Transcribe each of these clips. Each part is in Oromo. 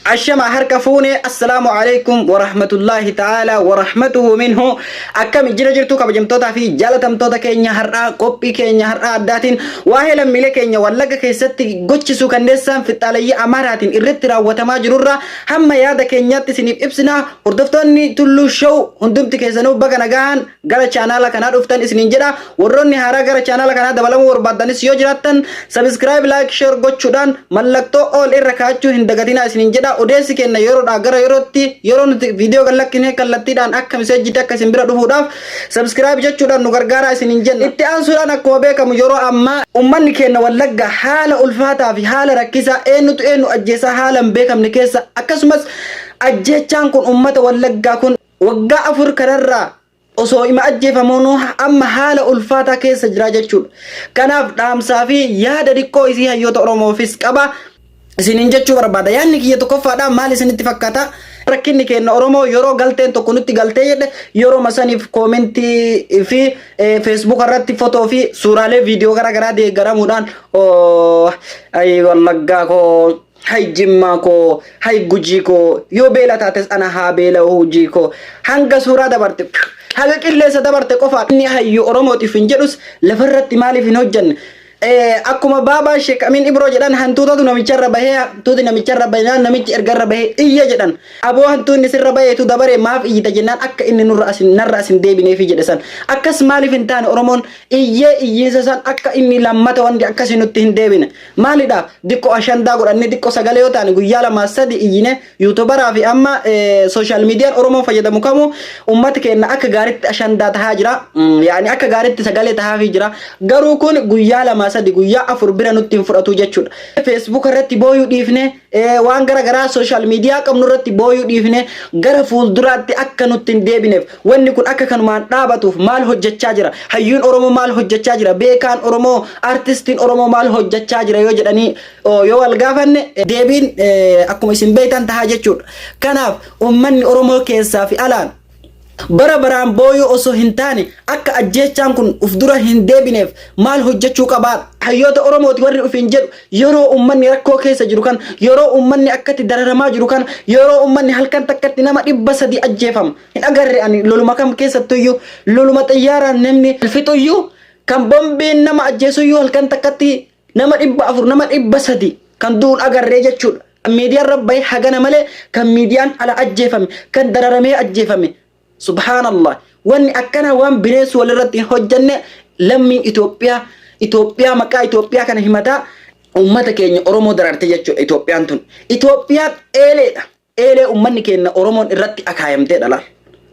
Ashama harka fuune assalaamu alaikum warahmatullaahi ta'aalaa warahmatuhu minhu akkami jira jirtu kabajamtootaa fi jaalatamtoota keenya har'aa qophii keenya har'aa addaatiin waa'ee lammiilee keenya wallagga keessatti gochisuu kanneessaan fixxaaleyyii amaaraatiin irratti raawwatamaa jirurraa hamma yaada keenyaatti isiniif ibsinaa hordoftoonni tulluu show hundumti keessanuu baga nagaan gara chaanaala kanaa dhuftan isiniin jedha warroonni haaraa gara chaanaala kanaa dabalamuu barbaaddanis yoo jiraattan sabiskiraayib laayik sheer gochuudhaan mallattoo ool irra kaa'achuu hin dagatinaa isiniin jedha odeessi kenna yeroodhaa gara yerootti yeroo nuti viidiyoo gad lakkisne kallattiidhaan akka miseejjitti akka isin bira dhufuudhaaf sabiskiraayib jechuudhaan nu gargaaraa isiniin jenna itti aansuudhaan akkuma beekamu yeroo ammaa ummanni keenya wallagga haala ulfaataa fi haala rakkisaa eenyutu eenyu ajjeesaa haala hin beekamne keessa akkasumas ajjeechaan kun ummata wallaggaa kun Waggaa afur kanarraa osoo ima ajjeefamuunuu amma haala ulfaataa keessa jira jechuudha. Kanaaf dhaamsaa fi yaada diqqoo isii hayyoota Oromoofis qaba. Isiniin jechuu barbaada. Yaadni kiyya tokkoffaadha maal isinitti fakkaata? Rakkinni keenya Oromoo yeroo galteen tokko nutti galtee jedhe yeroo saniif koomentii fi feesbuuka irratti fotoo fi suuraalee viidiyoo garaagaraa deeggaramuudhaan wallaggaa koo Hay jimmaa koo hay gujii koo yoo beela taates ana haa beela'u hujii koo hanga suuraa dabarte phew, haga qilleessa dabarte qofaa inni hayyu oromootiif hin jedhus lafarratti maaliif hin hojjanne Eh, akkuma baabaa sheek amiin ibroo jedhan hantuutatu namicharra bahee hantuuti namicharra bahinaan namichi erga irra bahee iyya jedhan aboo hantuunni sirra baheetu dabaree maaf iyyita jennaan akka inni nurra asin narra asin deebineefi jedhe san akkas maaliif hin taane oromoon iyyee iyyiinsa san akka inni lammata wanti akkasii nutti hin deebine Maalidha diqqo ashandaa godhanne diqqo sagalee yoo taane guyyaa lamaa sadi iyyine yuutubaraa fi amma sooshaal miidiyaan Oromoon fayyadamu kamu uummata keenya akka gaariitti ashandaa tahaa jira. Yaani akka gaariitti sagalee tahaafii jira. Garuu kun guyyaa lamaa sadi guyyaa afur bira nutti hin fudhatu jechuudha. Feesbuuka irratti booyuu dhiifne Eh, waan gara garaa social media qabnu irratti booyuu dhiifne gara fuulduraatti akka nutti hin deebineef wanni kun akka kanumaan dhaabatuuf maal hojjechaa jira hayyuun oromoo maal hojjechaa jira beekaan oromoo artistiin oromoo maal hojjechaa jira yoo jedhanii oo, yoo wal gaafanne eh, deebiin eh, akkuma isin beektan tahaa jechuudha kanaaf ummanni oromoo keessaa fi alaan Bara baraan booyuu osoo hin taane akka ajjeechaan kun uf dura hin deebineef maal hojjechuu qabaa? Hayyoota Oromooti warri ofiin jedhu yeroo uummanni rakkoo keessa jiru kana, yeroo uummanni akkatti dararamaa jiru kana, yeroo uummanni halkan takkatti nama dhibba sadii ajjeefamu hin agarre ani loluma kam keessattuyyuu loluma xiyyaaraan namni fixuyyuu kan bombiin nama ajjeesuyyuu halkan takkatti Nama dhibba afur nama dhibba sadi kan du'uun agarree jechuudha. Kan miidiyaa irra bahe hagana malee kan miidiyaan ala ajjeefame kan dararamee ajjeefame. Subhaanallah. Wanni akkanaa waan bineensi walirratti hin hojjanne lammiin Itoophiyaa Itoophiyaa maqaa Itoophiyaa kana himataa uummata keenya Oromoo dararte jechuudha Itoophiyaan tun. Itoophiyaan eeleedha. Eelee ummanni keenna Oromoon irratti akaayamteedha laal.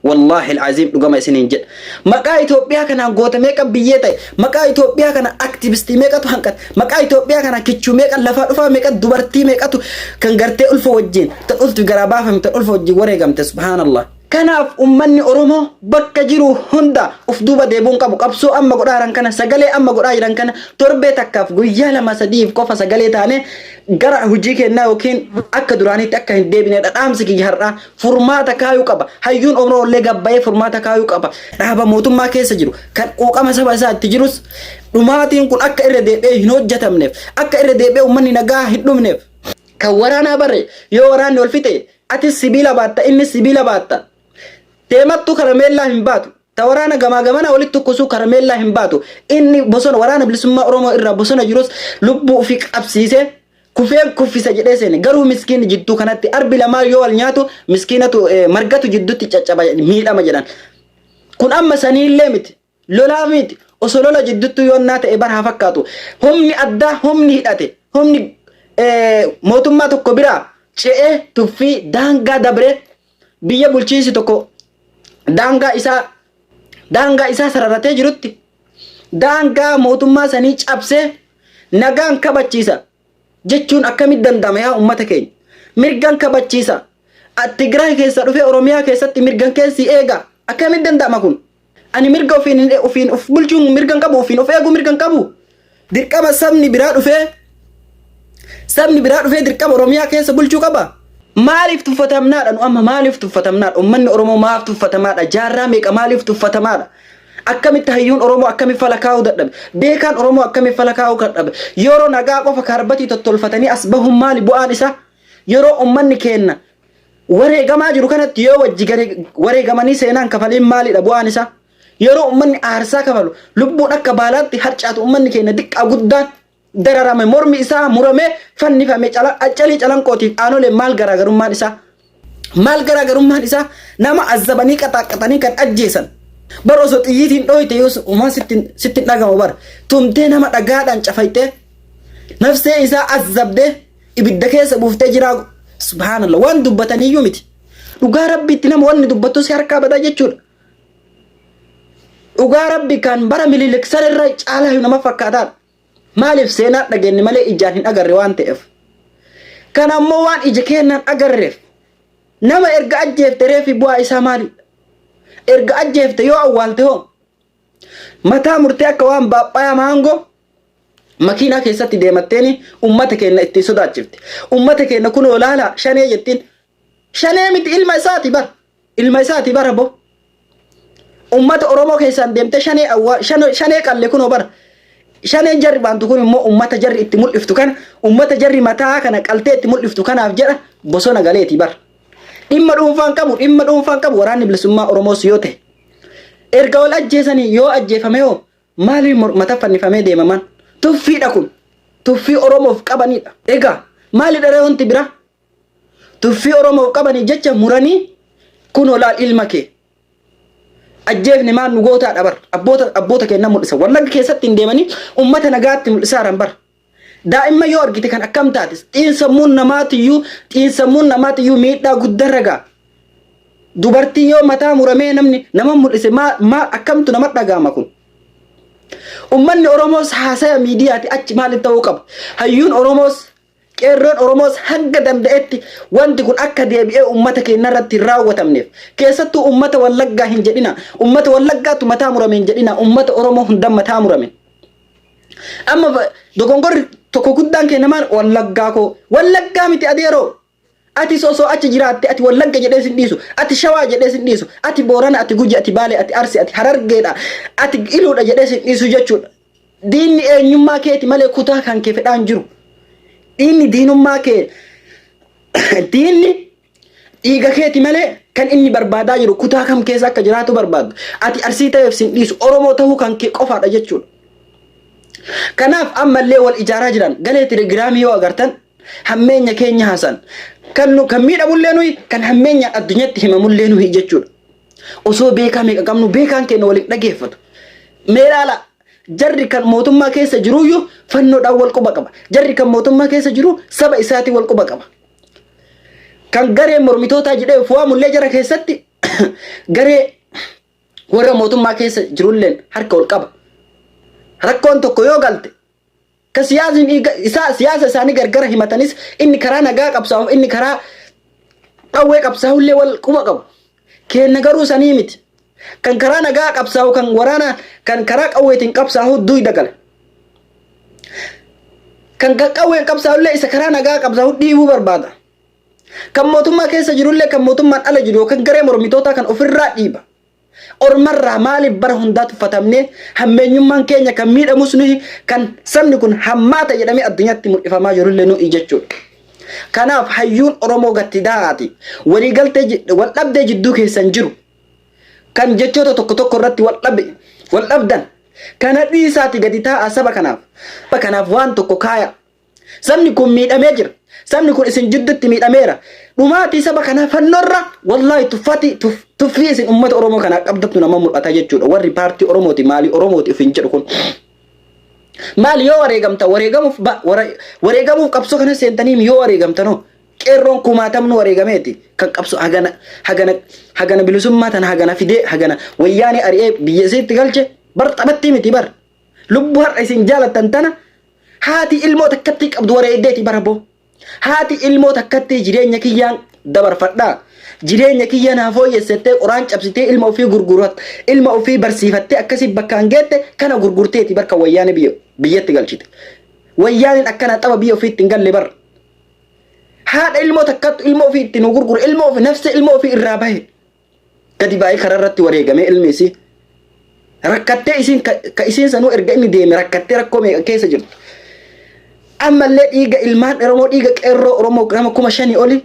Wallaahil Aziim dhugama isiniin jedha. Maqaa Itoophiyaa kanaan goota meeqa biyyee ta'e, maqaa Itoophiyaa kana activistii meeqatu hanqate, maqaa Itoophiyaa kanaan kichuu meeqa, lafaa dhufaa meeqa, dubartii meeqatu kan gartee ulfa wajjin, tan ulfi garaa baafame, tan ulfa wajjin wareegamte subhaanallah. Kanaaf ummanni Oromoo bakka jiru hunda of duuba deebi'uu hin qabu. Qabsoo amma godhaa jiran kana, sagalee amma godhaa jiran kana torbee takkaaf guyyaa lama sadiif qofa sagalee taanee gara hojii keennaa yookiin akka duraaniitti akka hin deebineedha dhaamsi kiyya har'aa. Furmaata kaayuu qaba. Hayyuun Oromoo illee gad ba'ee furmaata kaayuu qaba. Dhaaba mootummaa keessa jiru kan quuqama saba isaa itti jirus dhumaatiin kun akka irra deebi'ee hin hojjetamneef, akka irra deebi'ee ummanni nagaa hin dhumneef, kan waraanaa bare yoo waraanni wal fixe Atis sibiila baatta, innis sibiila baatta. Deemattu karameellaa hin baatu. Ta waraana gamaa gamana walitti tokkosu karameellaa hin baatu. Inni bosona waraana bilisummaa Oromoo irraa bosona jirus lubbuu ofii qabsiisee kufeen kuffisa jedhee seene. Garuu miskiinni jidduu kanatti arbi lamaan yoo wal nyaatu miskiinatu margatu jidduutti caccaba miidhama jedhan. Kun amma saniillee miti. Lolaa miit oso lola jidduttuu yoonnaa ta'e bar haa fakkaatu humni addaa humni hidhate humni mootummaa tokko biraa ce'ee tuffii daangaa dabree biyya bulchiinsi tokko daangaa isaa daangaa isaa sararatee jirutti daangaa mootummaa sanii cabsee nagaan kabachiisa jechuun akkamitti danda'ama yaa ummata keenya? Mirgan kabachiisa. A- Tigraay keessa dhufee Oromiyaa keessatti mirgan kee si eega. Akkamitti danda'ama kun? Ani mirga ofiin hin- ofiin of bulchuun mirgan qabu, ofiin of eeguu mirgan qabu. Dirqama sabni biraa dhufee sabni biraa dhufee dirqama Oromiyaa keessa bulchuu qaba. Maaliif tuffatamnaadha nu amma maaliif tuffatamnaadha? Ummanni Oromoo maaf tuffatamaadha? Jaarraa meeqa maaliif tuffatamaadha? Akkamitti hayyuun Oromoo akkami fala kaa'uu dadhabe? Beekaan Oromoo akkami fala kaa'uu kadhabe? Yeroo nagaa qofa kaarbatii tottolfatanii as bahuun maali bu'aan isaa? Yeroo ummanni keenna wareegamaa jiru kanatti yoo wajji gare wareegamanii seenaan kafaliin maalidha bu'aan isaa? Yeroo ummanni aarsaa kafalu lubbuun akka baalaatti harcaatu ummanni keenya diqqaa guddaan dararame mormi isaa muramee fannifame cala- calii calanqootiif aanolee maal garaagarummaan isaa maal garaagarummaan isaa nama azzabanii qaxaaqqaxanii kan ajjeesan bar osoo xiyyiitiin dhooyte yoo umaan sittin sittin dhagama bar tumtee nama dhagaadhaan cafaytee nafsee isaa azzabdee ibidda keessa buuftee jiraa subhaanallah waan dubbataniyyuu miti dhugaa rabbiitti nama wanni dubbattu si harkaa badaa jechuudha Dhugaa rabbi kan bara mililik san irra caalaa nama fakkaataan. Maaliif seenaa dhageenye malee ijaan hin agarre waan ta'eef. Kan ammoo waan ija keenyaan agarreef nama erga ajjeefte reefi bu'aa isaa maali? Erga ajjeefte yoo awwaalte hoo mataa murtee akka waan baaphayaa maangoo makiinaa keessatti deematteeni ummata keenya ittiin sodaachifte. Ummata keenya kunoo laalaa shanee jettiin. Shanee miti ilma isaati bara. Ilma isaati bara bo. Ummata Oromoo keessaan deemtee shanee awwaa shanee shanee qalle kunoo bara. Shaneen jarri baantu kun immoo ummata jarri itti mul'iftu kana ummata jarri mataa kana qaltee itti mul'iftu kanaaf jedha bosona galeeti bara. Dhimma dhuunfaan qabu dhimma dhuunfaan qabu waraanni bilisummaa Oromoos yoo ta'e. Erga wal ajjeesanii yoo ajjeefame hoo maaliif mormata fannifamee deemaman? Tuffiidha kun. Tuffii Oromoof qabanidha. Egaa maalidha ree wanti biraa? Tuffii Oromoof qabaniif jecha muranii kunoo laal ilma kee ajjeefne maal nu gootaadha bar abboota abboota keenya mul'isa wallagga keessatti hin deemanii ummata nagaatti mul'isaaran bar daa'imman yoo argite kan akkam taate xiinsammuun namaatiyyuu xiinsammuun namaatiyyuu miidhaa guddarra ga'a dubartii yoo mataa muramee namni nama mul'ise maal maal akkamtu nama dhaga'ama kun ummanni oromoos haasaya miidiyaati achi maaliif ta'uu qaba hayyuun oromoos Qeerroon Oromoos hanga danda'etti wanti kun akka deebi'ee uummata keennarratti hin raawwatamneef, keessattuu uummata Wallaggaa hin jedhinaa, uummata Wallaggaatu mataa murame hin jedhinaa, uummata Oromoo hundan mataa murame. Amma dogongorri tokko guddaan keenya maal? Wallaggaa koo. Wallaggaa miti adeeroo! Atis osoo achi jiraatte ati Wallagga jedhee sin dhiisu, ati Shawaa jedhee sin dhiisu, ati Boorana, ati Guji, ati Baalee, ati Arsi, ati Harargeedha, ati Iluudha jedhee sin dhiisu jechuudha. Diinni eenyummaa keeti malee kutaa kan kee fedhaa hin jiru. Diinni diinummaa kee diinni dhiiga keeti malee kan inni barbaadaa jiru kutaa kam keessa akka jiraatu barbaadu. Ati arsii ta'eef sin dhiisu Oromoo ta'uu kan kee qofaadha jechuudha. Kanaaf ammallee wal ijaaraa jiran galee telegiraamii yoo agartan Hammeenya keenya haasaan. Kan nu kan miidhamullee nuyi kan hammeenyaan addunyatti himamullee nuyi jechuudha. Osoo beekaa meeqa qabnu beekaan keenya waliin dhageeffatu. Mee ilaala jarri kan mootummaa keessa jiruyyuu fannoodhaan wal quba qaba. Jarri kan mootummaa keessa jiru saba isaatiin wal quba qaba. Kan garee mormitootaa jedhee of waamullee jara keessatti garee warra mootummaa keessa jirulleen harka wal qaba. Rakkoon tokko yoo galte Ka siyaasni isaa siyaasa isaanii gargara himatanis inni karaa nagaa qabsaa'uuf inni karaa qawwee qabsaa'ullee wal quba qabu. Keenna garuu sanii miti. Kan karaa nagaa qabsaa'u kan waraanaa kan karaa qawweetiin qabsaa'u duyda gala. Kan kan qawween qabsaa'ullee isa karaa nagaa qabsaa'u dhiibuu barbaada. Kan mootummaa keessa jirullee kan mootummaan ala jiru yookaan garee mormitootaa kan ofirraa dhiiba. Ormarraa maaliif bara hundaa tuffatamnee hammeenyummaan keenya kan miidhamus nuyi kan sabni kun hammaata jedhamee addunyaatti mul'ifamaa jirullee nuyi jechuudha. Kanaaf hayyuun Oromoo gatti daa'aati waliigaltee ji- waldhabdee jidduu keessan jiru kan jechoota tokko tokko irratti wal dhabe wal dhabdan kana dhiisaati gadi taa'a saba kanaaf saba kanaaf waan tokko kaaya Sabni kun miidhamee jira. Sabni kun isin jiddutti miidhameera. Dhumaatii saba kanaa fannoorra wallaahi tuffaatii tuf- tuffii isin uummata Oromoo kanaa qabdattu nama mul'ata jechuudha. Warri paartii Oromooti maalii Oromooti ofiin jedhu kun. Maali yoo wareegamta wareegamuuf ba- wara- wareegamuuf qabsoo kana seentaniim yoo wareegamtanoo qeerroon kumaatamnu wareegameeti kan qabsoo hagana hagana hagana bilisummaa tana hagana fidee hagana wayyaanee ari'ee biyya isiitti galche bar taphattii miti bar. Lubbu har'a isin jaalattan tana haati ilmoo takkattii qabdu wareeddeeti bara boo. Haati ilmoo takkattii jireenya kiyyaan dabarfadhaa. Jireenya kiyya naa fooyyessettee qoraan cabsitee ilma ofii gurgurat ilma ofii barsiifattee akkasii bakkaan geette kana gurgurteeti barka wayyaane biyya biyyatti galchite. Wayyaaneen akkana xaba biyya ofii ittiin galle bara. Haadha ilmoo takkattu ilmoo ofii ittiin nu gurgure ilmoo ofii nafsee ilmoo ofii irraa bahe. gadi baay'ee karaa irratti wareegamee ilmi isii rakkattee isiin ka isiin sanuu erga inni deeme rakkattee rakkoo meeqa keessa jirtu. Ammallee dhiiga ilmaan Oromoo dhiiga qeerroo Oromoo nama kuma shanii oli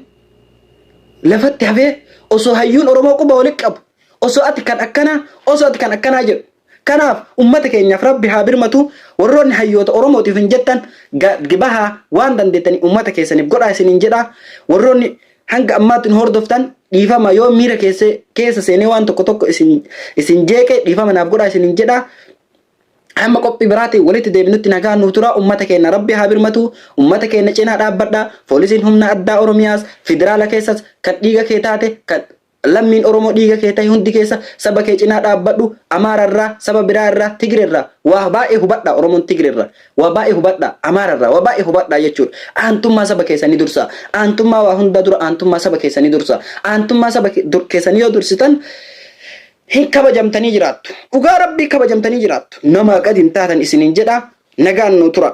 lafatti hafee osoo hayyuun Oromoo quba walitti qabu osoo ati kan akkanaa osoo ati kan akkanaa jedhu Kanaaf ummata keenyaaf rabbi haa birmatu warroonni hayyoota oromootiif hin jettan gad bahaa waan dandeettaniin ummata keessaniif godhaa isiniin jedha warroonni hanga ammaatti nu hordoftan dhiifama yoo miira keessa keessa seenee waan tokko tokko isin isin jeeqe dhiifama naaf godhaa isiniin jedha hamma qophii biraatiin walitti deebinutti nagaa nuuf tura ummata keenya rabbi haa birmatu ummata keenya cinaa dhaabbadha poolisiin humna addaa oromiyaas federaala keessas kan dhiiga kee taate kan Lammiin Oromoo dhiiga kee tahe hundi keessa saba kee cinaa dhaabbadhu, Amaara irraa, saba biraa irraa, Tigre irraa waa baay'ee hubadhaa, Oromoon Tigre irraa waa baay'ee hubadhaa, Amaara irraa waa baay'ee hubadhaa jechuudha. Aantummaa saba keessanii dursaa. Aantummaa waa hundaa dura aantummaa saba keessanii dursaa. Aantummaa saba keessanii yoo dursitan hin kabajamtanii jiraattu. Dhugaa Rabbii kabajamtanii jiraattu. Namaa gad hin taatan isiniin jedhaa. Nagaan nuu turaa.